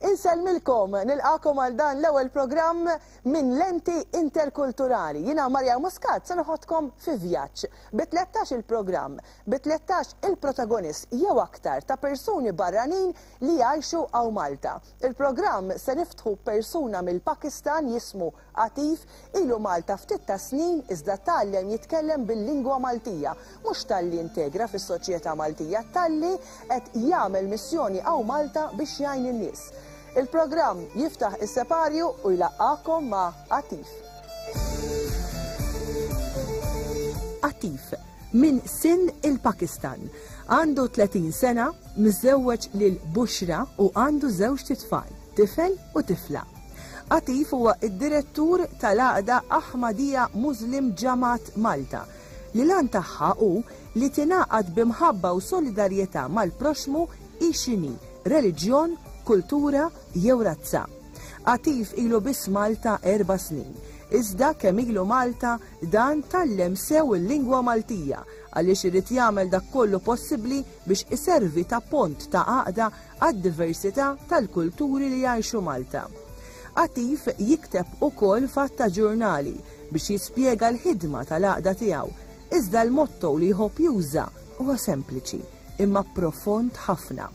Insellmilkom, nilqakom għal dan l-ewwel programm minn lenti interkulturali. Jiena Marja Muscat se noħodkom fi vjaġġ bi 13 il-programm, bi 13 il-protagonist jew aktar ta' persuni barranin li jgħixu hawn Malta. Il-programm se niftħu b'persuna mill-Pakistan jismu Għatif, ilu Malta ftit tas-snin iżda tgħallem jitkellem bil-lingwa Maltija, mhux talli integra fis-soċjetà Maltija, talli qed jagħmel missjoni hawn Malta biex jgħin in-nies. Il-programm jiftaħ is-separju u jlaqqagħkom ma' Għatif. Għatif, minn Sin il-Pakistan. Għandu 30 sena, miżżewweġ lil Bushra u għandu żewġt itfal. Tifel u tifla. Atif huwa d-direttur tal-Għaqda Ahmadiyya Muslim Jamaat Malta, li l-għan tagħha hu li tingħaqad bi mħabba u solidarjetà mal-proxxmu hi x'inhi, reliġjon, kultura jew razza. Atif ilu biss Malta erba' snin, iżda kemm ilu Malta dan tgħallem sew il-lingwa Maltija għaliex irid jagħmel dak kollu possibbli biex iservi ta' pont ta' għaqda għad-diversità tal-kulturi li jgħixu Malta. Attiv jikteb ukoll f'għadd ta' ġurnali biex jispjega l-ħidma tal-għaqda tiegħu, iżda l-motto li jħobb juża huwa sempliċi imma profond ħafna,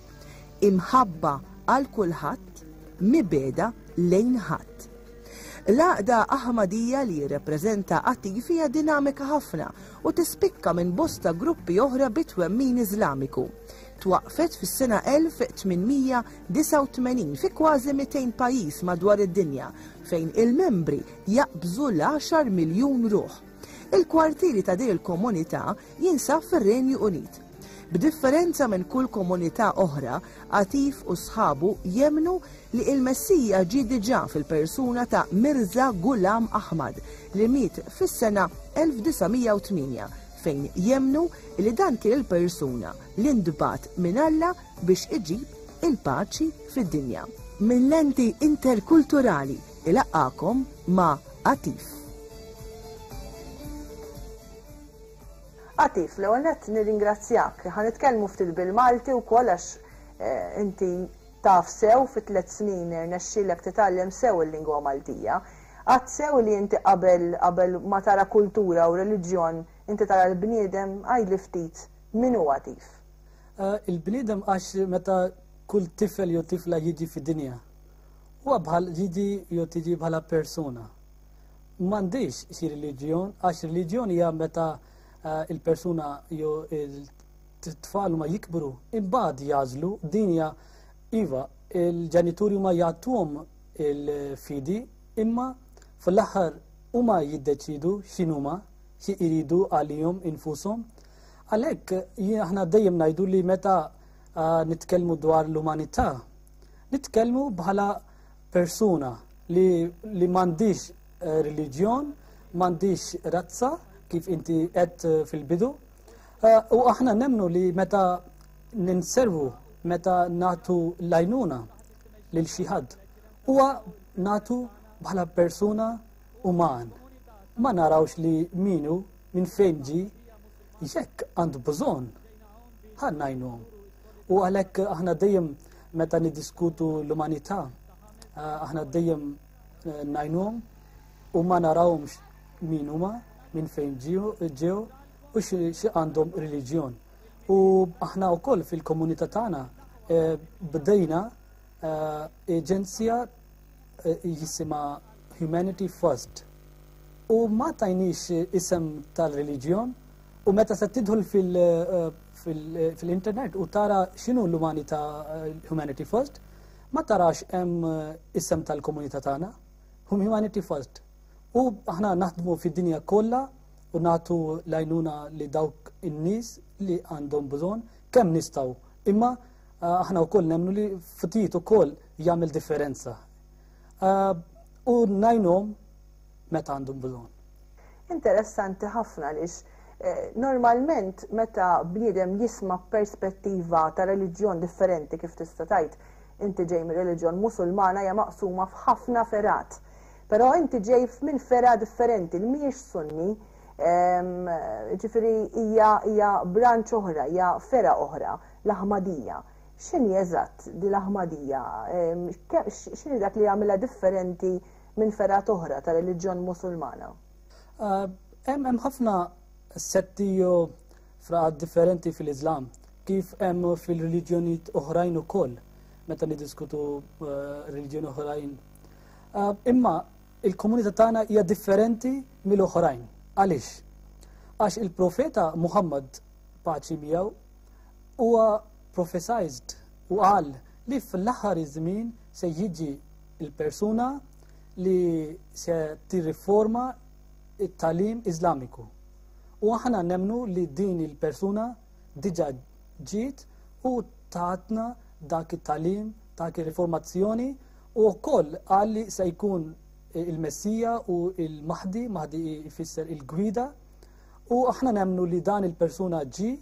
Imħabba għal kulħadd, mibegħda lejn ħadd. L-għaqda Aħmadija li jirrepreżenta Attif hija dinamika ħafna u tispikka minn bosta gruppi oħra bit-twemmin Iżlamiku. twaqqfet fis-sena 1889 fi kważi 200 pajjiż madwar id-dinja fejn il-membri jaqbżu l-10 miljun ruħ. Il-kwartieri ta' din il-komunità jinsab fir-Renju Unit. B'differenza minn kull komunità oħra, Atif u sħabu jemnu li il-Messija ġie diġà fil-persuna ta' Mirza Ghulam Ahmad li miet fis-sena 1908 fejn jemmnu li dan kien il-persuna li ntbagħat minn Alla biex iġib il-paċi fid-dinja. Minn lenti interkulturali ilaqqakom ma' Atif. Atif, l-ewwel nett nirringrazzjak. Ħa nitkellmu ftit bil-Malti wkoll għax eh, inti taf sew fit tliet snin irnexxielek titgħallem sew il-lingwa Maltija. Għad sew li inti qabel qabel ma tara kultura u reliġjon inti tara l-bniedem? Għidli ftit min hu Għatif? Il-bniedem għax meta kull tifel jew tifla jiġi fid-dinja huwa bħal jiġi jew tiġi bħala persuna. M'għandix xi reliġjon għax reliġjon hija meta eh, il-persuna jew il-tfal ma jikbru imbagħad jażlu dinja iva il-ġenituri ma jagħtuhom il-fidi imma fl-aħħar huma jiddeċidu x'inhuma xi jridu għalihom infushom. Għalhekk aħna dejjem ngħidu li meta ah, nitkellmu dwar l-umanità, nitkellmu bħala persuna li, li m'għandix eh, reliġjon, m'għandix razza kif inti qed eh, fil-bidu. Eh, u aħna nemnu li meta ninservu, meta nagħtu lajnuna lil xi ħadd. Huwa natu bħala persuna uman. Ma narawx li minu minn fejn ġi jekk għand bżonn ħannajnhom. U għalhekk aħna dejjem meta niddiskutu l-umanità, eh, aħna dejjem eh, najnhom u ma narawhomx min huma, minn fejn ġew u xi għandhom reliġjon. U aħna wkoll fil-komunità tagħna eh, bdejna eh, aġenzija eh, jisima Humanity First. U ma tajnix isem tal-reliġjon u meta se tidħol fil-internet u tara x'inhu l-umanità Humanity First, ma tarax hemm eh, isem tal-komunità tagħna, hum humanity first. U aħna naħdmu fid-dinja kollha u nagħtu l-għajnuna li dawk in-nies li għandhom bżonn kemm nistgħu. Imma eh, aħna wkoll nemmnu li ftit ukoll jagħmel differenza. Eh, u najnhom meta għandhom bżonn. Interessanti ħafna lix Eh, normalment meta bniedem jisma perspettiva ta' reliġjon differenti kif tista' tajt inti ġej mir-reliġjon musulmana hija maqsuma f'ħafna ferat. Però inti ġej minn fergħa differenti li mhijiex Sunni, ġifieri hija hija branch oħra, hija fergħa oħra, l-Ahmadija. X'inhi eżatt din l-Ahmadija? X'inhi dak li jagħmilha differenti minn fergħat oħra ta' reliġjon Musulmana? Hemm ħafna setti jew fraqat differenti fil-Iżlam, kif hemm fil-reliġjonijiet oħrajn ukoll meta niddiskutu reliġjoni oħrajn Ah, imma il-komunità tagħna hija differenti mill-oħrajn. Għaliex? Għax il-profeta Muhammad paċi miegħu huwa prophesized u qal li fl-aħħar iż-żmien se jiġi il-persuna li se tirriforma it-talim Iżlamiku. U aħna nemnu li din il-persuna diġa ġiet u tatna dak it-talim, dak ir-riformazzjoni U wkoll qal li se jkun il-Messija u il-Mahdi, Mahdi jfisser il-gwida, u aħna nemnu li dan il-persuna ġi,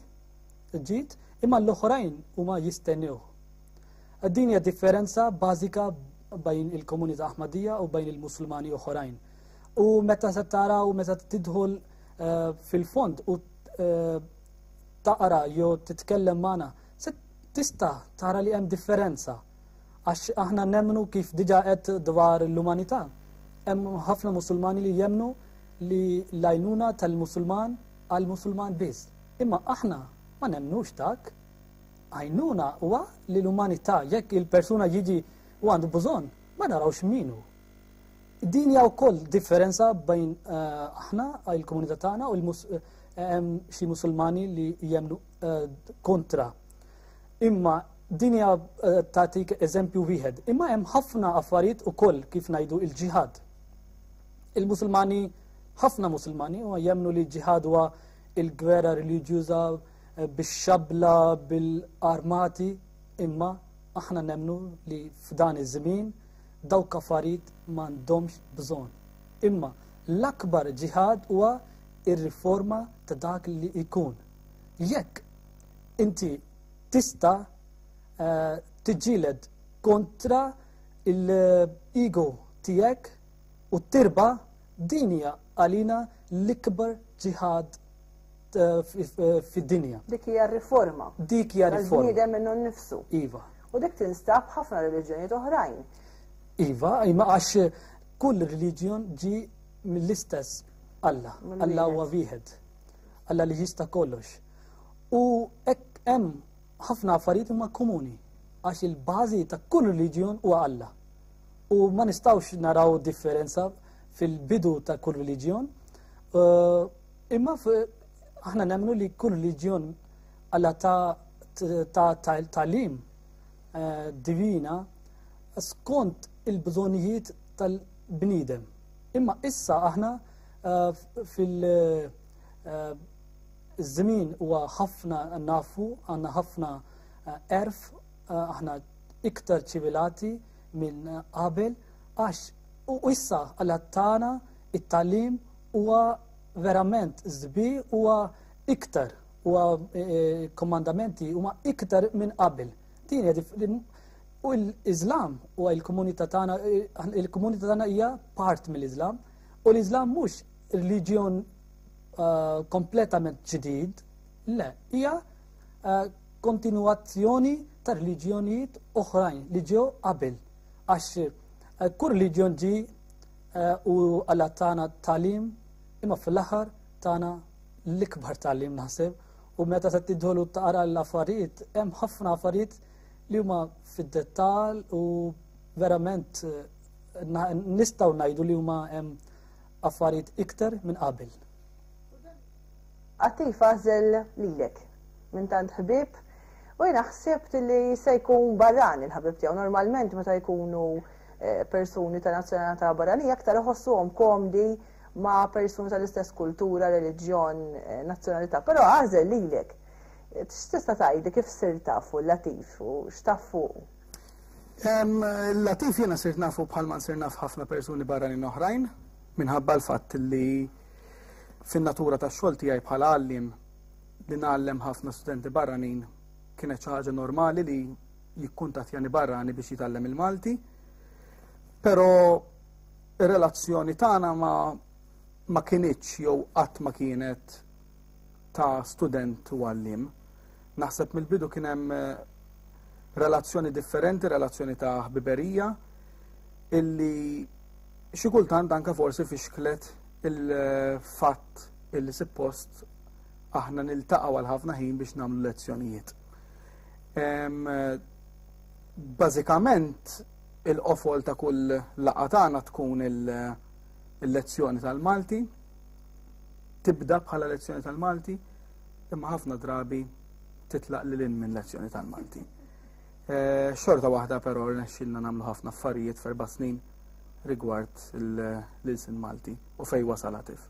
ġiet, imma l-oħrajn huma jistennew. Din hija differenza bażika bajn il-komunità Ahmadija u bajn il-Musulmani oħrajn. U meta se tara u meta tidħol eh, fil-fond u eh, taqra jew titkellem magħna, se tista' tara li hemm differenza. Għax aħna nemmnu kif diġa qed dwar l-umanità. Hemm ħafna Musulmani li jemmnu li l-għajnuna tal-Musulman għal Musulman biss. Imma aħna ma nemmnux dak. Għajnuna huwa li l-umanità jekk il-persuna jiġi u għandu bżonn ma narawx minu. Din hija wkoll differenza bejn eh, aħna il-komunità tagħna u eh, xi Musulmani li jemmnu eh, kontra Imma din hija eh, tagħtik eżempju wieħed. Imma hemm ħafna affarijiet ukoll kif ngħidu il-ġihad. Il-Musulmani, ħafna Musulmani huma jemnu li ġihad huwa il-gwerra reliġjuża eh, bix-xabla, bil-armati, imma aħna nemnu li f'dan iż-żmien dawk affarijiet m'għandhomx bżonn. Imma l-akbar ġihad huwa ir-riforma ta' dak li jkun. Jekk inti tista eh, tiġġieled kontra l-ego tiegħek u tirba din hija għalina l-ikbar ġihad eh, fid-dinja. Dik hija riforma. Dik hija riforma. Bniedem minnu nnifsu. Iva. U dik tinstab ħafna reliġjonijiet oħrajn. Iva, imma għax kull reliġjon ġi mill-istess Alla. Alla huwa wieħed. Alla li jista' kollox. U hekk hemm ħafna affarijiet huma komuni għax il-bażi ta' kull reliġjon huwa Alla. U ma nistgħux naraw differenza fil-bidu ta' kull reliġjon. Eh, imma aħna nemmnu li kull reliġjon Alla ta' talim eh, divina skont il-bżonijiet tal-bnidem. Imma issa aħna fil żmien huwa ħafna nafu għandna ħafna erf aħna iktar ċivilati minn qabel għax u issa għal tagħna it-talim huwa verament żbi huwa iktar huwa e, e, komandamenti huma iktar minn qabel. Din u l-Iżlam u l-komunità tagħna e, il-komunità tagħna hija part mill-Iżlam U l-Iżlam mhux reliġjon eh, kompletament ġdid, le, hija eh, kontinuazzjoni ta' reliġjonijiet oħrajn li ġew qabel. Għax eh, kull reliġjon ġi u għalla tagħna talim imma fl-aħħar tagħna l-ikbar talim naħseb u meta se tidħolu taqra l-affarijiet hemm ħafna affarijiet li huma fid-dettall u verament nistgħu ngħidu li huma affarijiet iktar minn qabel. Għatti fazel lilek minn tant ħbib u jina ħsibt li se jkun barran il-ħabib tiegħu normalment meta jkunu eh, persuni ta' nazzjonalità barranija aktar iħossuhom komdi ma' persuni tal-istess kultura, reliġjon, eh, nazzjonalità, però għażel lilek. X'tista' tgħidi kif sir tafu l-latif u x'taf fuq? Latif jiena sirt nafu bħal ma nsir naf ħafna persuni barranin oħrajn minħabba l-fatt li fin-natura tax-xogħol tiegħi bħala għalliem li ngħallem ħafna studenti barranin kienet xi ħaġa normali li jikkuntattjani barrani biex jitgħallem il-Malti. Però ir-relazzjoni tagħna ma ma kienieċ jew qatt ma kienet ta' student u għallim. Naħseb mill-bidu kien hemm relazzjoni differenti, relazzjoni ta' ħbiberija, illi xi kultant anke forsi fixklet il-fatt illi suppost aħna niltaqgħu għal ħafna ħin biex nagħmlu lezzjonijiet. Bażikament il-qofol ta' kull laqgħa tagħna tkun il-lezzjoni tal-Malti, tibda bħala lezzjoni tal-Malti, imma ħafna drabi titlaq lil hinn minn lezzjoni tal-Malti. Eh, xorta waħda però rnexxilna nagħmlu ħafna affarijiet f'erba' snin rigward l-ilsin Malti u fej wasal għatif.